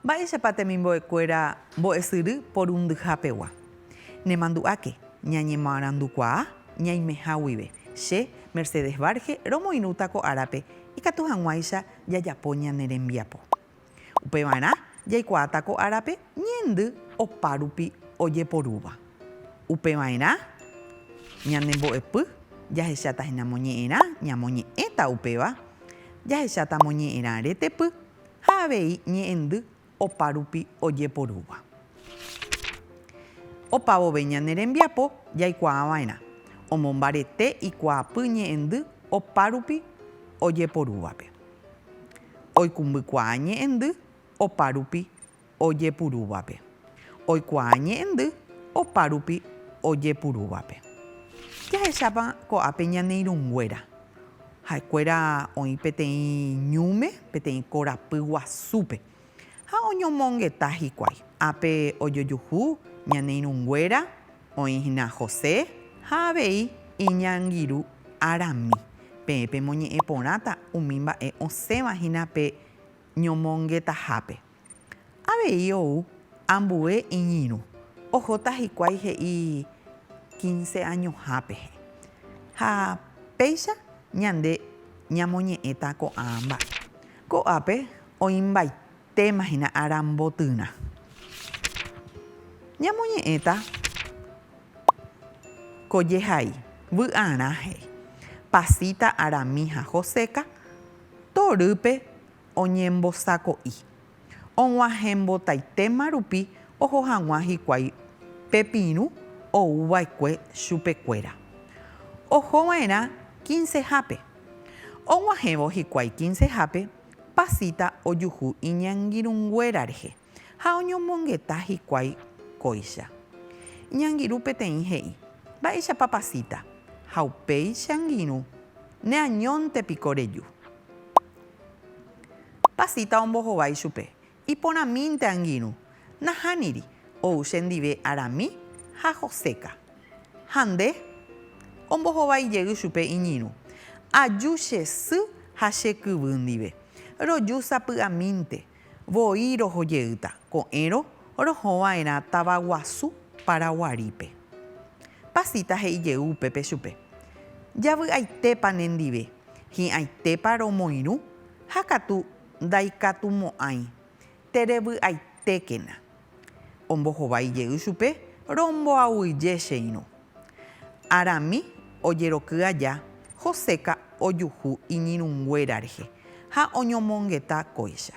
Mba'éichapa temimbo'ekuéra mbo'esyry porundyhapegua? Nemandu'áke, ñañemoarandukuaa ñaimeha guive. Che, Mercedes Varge, romoirũta ko árape, ikatu hag̃uáicha jajapo ñane rembiapo. Upevarã jaikuaáta ko árape ñaindy opárupi ojeporúva. Upeva'erã ñane mbo'epy jahecháta hína moñe'ẽrã, ñamoñe'ẽta upéva, jahecháta moñe'ẽrã retepy ha avei ñe'ẽndy opárupi ojeporúva. Opavove ñane rembiapo jaikuaava'erã omombarete ikuaapy ñe'ẽndy opárupi ojeporúvape. Oikumbykuaa ñe'ẽndy opárupi ojepurúvape. Oikuaa ñe'ẽndy opárupi ojepurúvape. Jahechápa ko'ápe ñane irũnguéra Ha'ekuéra oĩ peteĩ ñúme, peteĩ korapy guasúpe, ha oñomongeta hikuái. Ápe ojojuhu ñane irũnguéra oĩ hína José ha avei iñangirũ arami. Peẽ pemoñe'ẽ porãta umi mba'e osẽva hína pe ñomongetahápe. Avei ou ambue iñirũ, ohóta hikuái he'i quince añoha pehe. Ha péicha ñande ñamoñe'ẽta ko'ã mba'e. Ko'ápe oĩmbaitema hína ára mbotyrã. Ñamoñe'ẽta ko jehai, vy'arã he'i, pasita arami ha hoséka, torýpe, oñembosako'i, og̃uahẽmbotaitéma rupi oho hag̃ua hikuái pe pirũ ou va'ekue chupe kuéra. Oho va'erã kinsehápe. Og̃uahẽvo hikuái kinsehápe, pasita ojuhu iñangirũnguéra rehe. ha oñomongeta hikuái kóicha. Iñangirũ peteĩ he'i, Mba'éichapa pasíta? Ha upéicha angirũ, Neañónte piko reju. Pasíta ombohova ichupe, Iporãmínte angirũ, nahániri, ou chendive arami ha hoséka. Ha nde? Ombohova ijey chupe iñirũ, Aju che sy ha che kyvy ndive, roju sapy'amínte. Voi roho jeýta ko'ẽrõ roho va'erã táva guasu Paraguarípe. Pasita he'i jey upépe chupe, Javy'aitépa nendive, hi'ãitépa romoirũ ha katu ndaikatumo'ãi, terevy'aitékena. Ombohovái jey chupe, Romboaguije che irũ. Arami ojeroky aja, Joséka ojuhu iñirũnguéra rehe ha oñomongeta kóicha.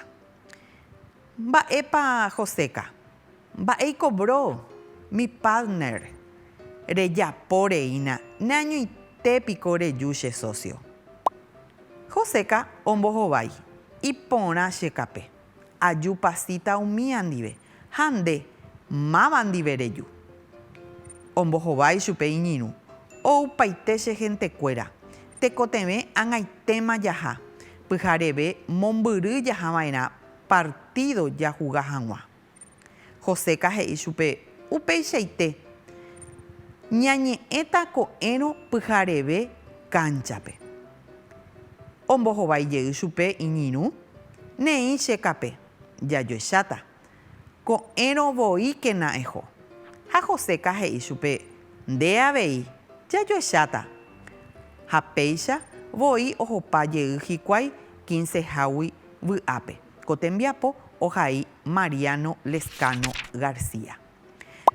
Mba'épa Joséka? Mba'éiko Bro, mi partner, rejapo reína, neañoite piko reju che socio. Joséka ombohovái, Iporã che kape. Aju pasíta umía ndive, ha nde, máva ndive reju. Ombohova ichupe iñirũ, Oupaite che hentekuéra, tekotevẽ ag̃aitéma jaha, pyhareve mombyry jahava'erã partído jahuga hag̃ua. Joseca he'i chupe, Upeichaite, ñañe'ẽta ko'ẽrõ pyhareve kánchape. Ombohovái jey chupe iñirũ, Neĩ che kape, jajoecháta. Ko'ẽrõ voíkena eho. Ha Joseca he'i chupe, Nde avei, jajoecháta. Ha péicha voi ohopa jey hikuái quince hágui vy'ápe. Ko tembiapo ohai Mariano Lezcano García.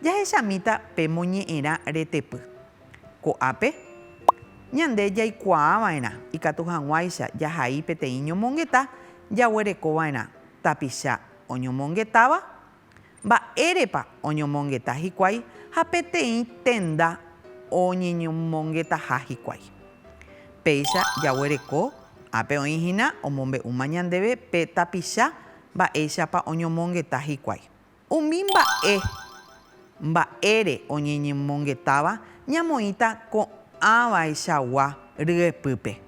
Jahechamíta pe moñe'ẽrã retepy. Ko'ápe, ñande jaikuaava'erã ikatu hag̃uáicha jahai peteĩ ñomongeta jaguerekova'erã tapicha oñomongetáva Mba'érepa oñomongeta hikuái ha peteĩ tenda oñeñomongetaha hikuái. Péicha jaguereko ápe oĩ hína omombe'úma ñandéve pe tapicha mba'éichapa oñomongeta hikuái. Umi mba'e mba'ére oñeñemongetáva ñamoĩta ko'ãvaichagua ryepýpe,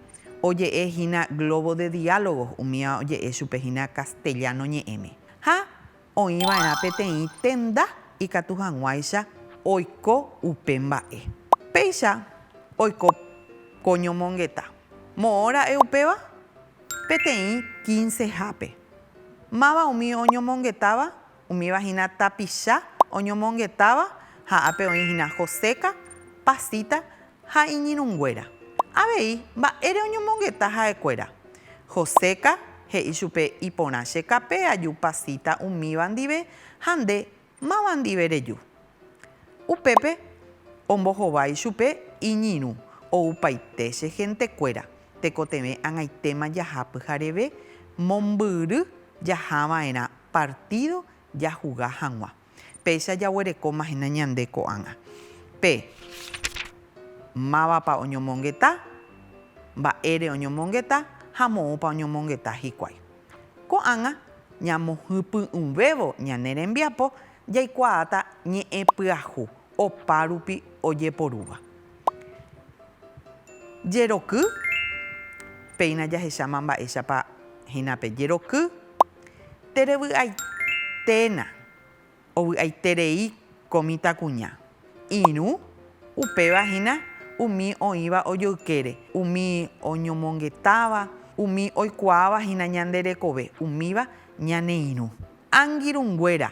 oje'e hína Globo de Diálogos umíva oje'e chupe hína castellano ñe'ẽme. Ha oĩ va'erã peteĩ tenda ikatu hag̃uáicha oiko upe mba'e. Péicha oiko ko ñomongeta. Moõ ra'e upéva? Peteĩ kinsehápe. Máva umi oñomongetáva? Umíva hína tapicha oñomongetáva ha ápe oĩ hína Joséka, Pasita Ha iñirũnguéra. Avei, mba'ére oñomongeta ha'ekuéra? Joséka, he'i chupe, Iporã che kape aju pasíta umíva ndive, ha nde, máva ndive reju. Upépe, ombohova ichupe iñirũ, oupaite che hentekuéra, tekotevẽ ag̃aitéma jaha pyhareve, mombyry jahava'erã partído jahuga hag̃ua. Péicha jaguerekóma hína ñande ko'ág̃a pe mávapa oñomongeta, mba'ére oñomongeta ha moõpa oñomongeta hikuái. Ko'ág̃a ñamohypy'ũvévo ñane rembiapo jaikuaáta ñe'ẽ pyahu opárupi ojeporúva. Jeroky, péina jahecháma mba'éichapa hína pe jeroky. Terevy'aiténa, ovy'aiterei ko mitãkuña. Irũ, upéva hína umi oĩva ojoykére, umi oñomongetáva, umi oikuaáva hína ñande rekove, umíva ñane irũ. Angirũnguéra,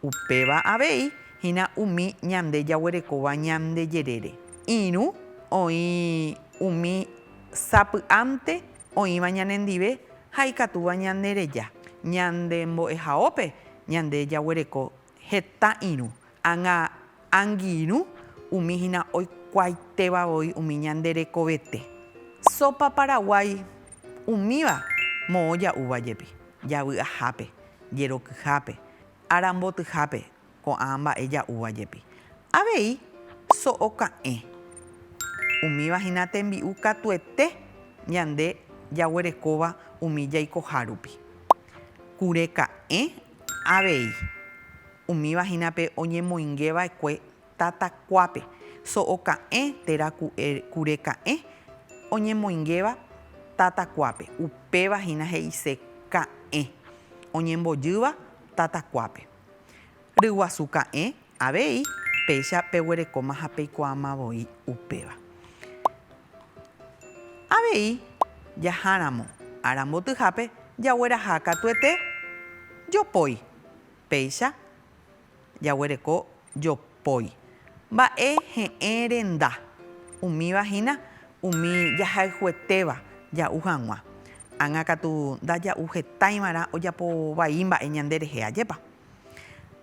Upéva avei hína umi ñande jaguerekóva ñande jerére. Irũ oĩ umi sapy'ánte oĩva ñanendive ha ikatúva ñanereja. Ñande mbo'ehaópe ñande jaguereko heta irũ ág̃a Angirũ umi hína oikuaaitéva voi umi ñande rekovete. Sopa Paraguái umíva moõ ja'úva jepi, javy ahápe, jerokyhápe, ára mbotyhápe, ko'ã mba'e ja'úva jepi. Avei so'o ka'ẽ. Umíva hína tembi'u katuete ñande jaguerekóva umi jaikohárupi. Kure ka'ẽ Avei, umíva hína pe oñemoinge va'ekue tata kuápe, so'o ka'ẽ térã kure ka'ẽ oñemoingéva tata kuápe, upéva hína he'ise ka'ẽ oñembojýva tata kuápe. Ryguasu ka'ẽ, Avei, péicha peguerekóma ha peikuaáma voi upéva. Avei, jaháramo ára mbotyhápe jagueraha katuete jopói. Péicha jaguereko jopói. Mba'e he'ẽ renda, umíva hína umi jahayhuetéva ja'u hag̃ua. Ág̃a katu ndaja'u hetaiva'erã ojapo vai mba'e ñande rehe, ajépa?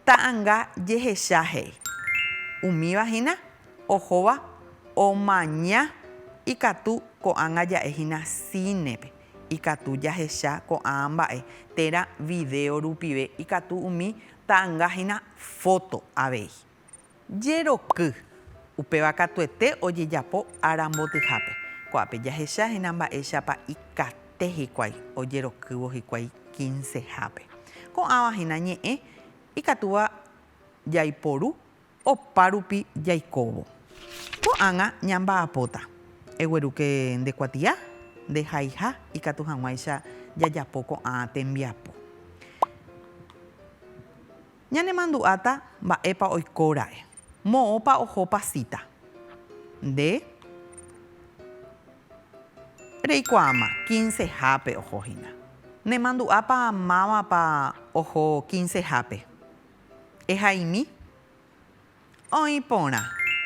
Ta'anga jehecha he'i. Umíva hína ohóva omaña ikatu ko'ág̃a ja'e hína cine-pe, ikatu jahecha ko'ã mba'e térã vidéo rupive ikatu umi ta'anga hína foto avei. Jeroky. Upéva katuete ojejapo ára mbotyhápe. Ko'ápe jahecha hína mba'éichapa ikate hikuái ojerokývo hikuái kinsehápe. Ko'ãva hína ñe'ẽ ikatúva jaiporu opárupi jaikóvo. Ko'ág̃a ñamba'apóta, eguerúke nde kuatia, nde haiha ikatu hag̃uáicha jajapo ko'ã tembiapo. Ñanemandu'áta mba'épa oikóra'e, moõpa ohopa síta. Nde reikuaáma kinsehápe oho hína. Nemandu'ápa mávapa oho kinsehápe. Ehaimi. Oĩ porã,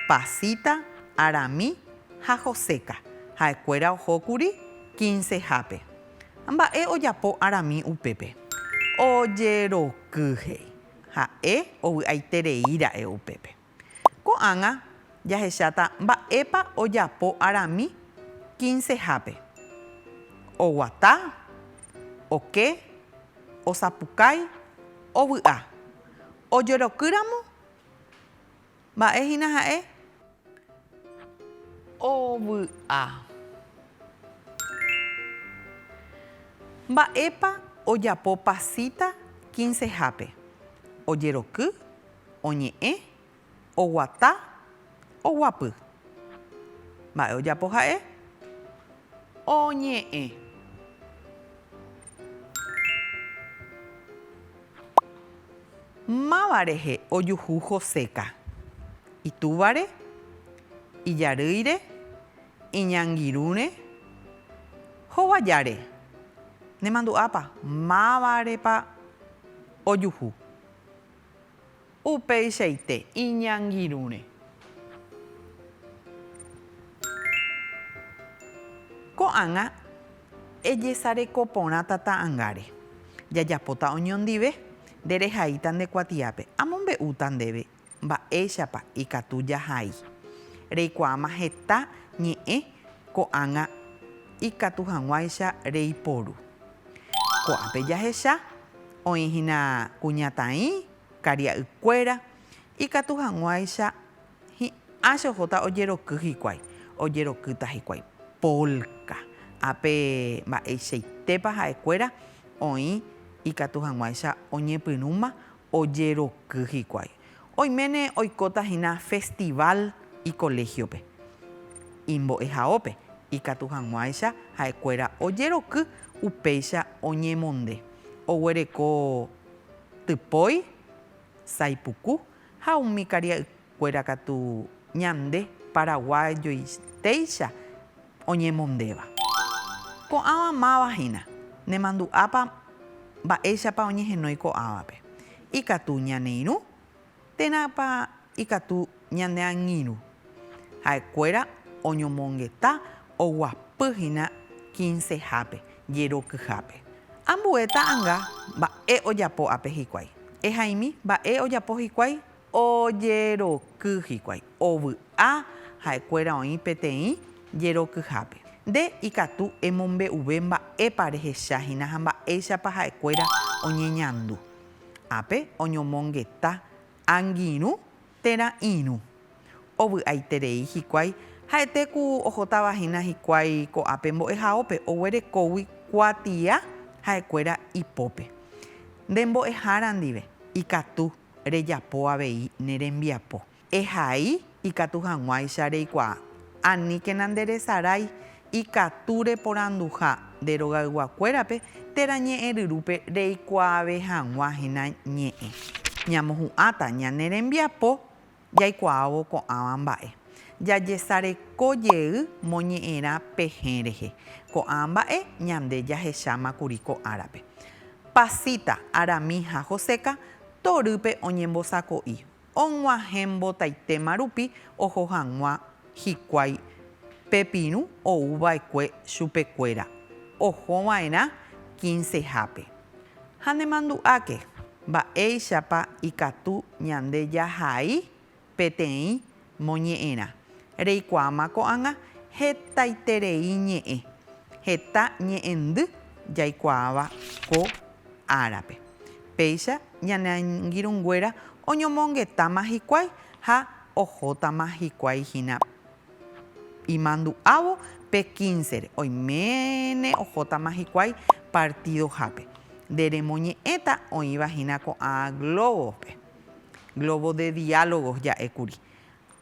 pasita, arami ha joséka, ha'ekuéra ohókuri kinsehápe. Mba'e ojapo arami upépe? Ojeroky, he'i. Ha'e ovy'aiterei ra'e upépe. Ko'ág̃a jahecháta mba'épa ojapo arami kinsehápe, oguata, oke, osapukái, ovy'a. Ojerokýramo, mba'e hína ha'e ovy'a. Mba'épa ojapo Pasita kinsehápe? Ojeroky, oñe'ẽ, oguata. Oguapy. Mba'e ojapo ha'e? Oñe'ẽ. Máva rehe ojuhu Joséka? Itúvare? Ijarýire? Iñangirũre? Hovajáre? Nemandu'ápa, mávarepa ojuhu? Upeichaite iñangirũre. Ko'ág̃a ejesareko porã tata ãngáre. Jajapóta oñondive, nderehaíta nde kuatiápe. Amombe'úta ndéve mba'éichapa ikatu jahai. Reikuaáma heta ñe'ẽ ko'ág̃a ikatu hag̃uáicha reiporu. Ko'ápe jahecha, oĩhína kuñataĩ, Karia'ykuéra ikatu hag̃uáicha hi'ã che ohóta ojeroky hikuái, ojerokýta hikuái polka. Ha pe mba'eichaitépa ha'ekuéra oĩ ikatu hag̃uáicha oñepyrũma ojeroky hikuái. Oiméne oikóta hína festival ikoléhiope, imbo'ehaópe ikatu hag̃uáicha ha'ekuéra ojeroky upéicha oñemonde oguereko typói, saipuku ha umi karia'ykuéra katu ñande paraguayoitéicha oñemondéva. Ko'ãva máva hína, nemandu'ápa mba'éichapa oñehenói ko'ãvape. Ikatu ñane irũ Térãpa ikatu ñane angirũ ha'ekuéra oñomongeta oguapy hína kinsehápe, jerokyhápe? Ambue ta'anga mba'e ojapo ápe hikuái. Ehaimi mba'e ojapo hikuái, ojeroky hikuái. Ovy'a ha'ekuéra oĩ peteĩ jerokyhápe. Nde ikatu emombe'uve mba'épa rehecha hína ha mba'éichapa ha'ekuéra oñeñandu. Ápe oñomongeta angirũ térã irũ. Ovy'aiterei hikuái ha'ete ku ohótava hína hikuái ko'ápe mbo'ehaópe oguerekógui kuatia ha'ekuéra ipópe. Nde mbo'ehára ndive ikatu rejapo avei ne rembiapo. Ehai ikatu hag̃uáicha reikuaa. Aníkena nderesarái ikatu reporanduha nde rogayguakuérape térã ñe'ẽ ryrúpe reikuaave hag̃ua hína ñe'ẽ. Ñamohu'ãta ñane rembiapo jaikuaávo ko'ãva mba'e. Jajesareko jey moñe'ẽrã pehẽ rehe. Ko'ã mba'e ñande jahecháma kuri ko árape. Pasita, Arami ha Joseca torýpe oñembosako'i. og̃uahẽ mbotaitéma rupi oho hag̃ua hikuái pe pirũ ou va'ekue chupekuéra oho va'erã kĩnsehápe. Ha nemandu'áke mba'éichapa ikatu ñande jahai peteĩ moñe'ẽrã. Reikuaáma ko'ág̃a hetaiterei ñe'ẽ, heta ñe'ẽndy jaikuaáva ko árape. Péicha ñane angirũnguéra oñomongetáma hikuái ha ohótama hikuái hína imandu'ávo pe kínsere, oiméne ohótama hikuái partidohápe. Nde remoñe'ẽta oĩva hína ko'ã glóbospe, globos de diálogos ja'e kuri.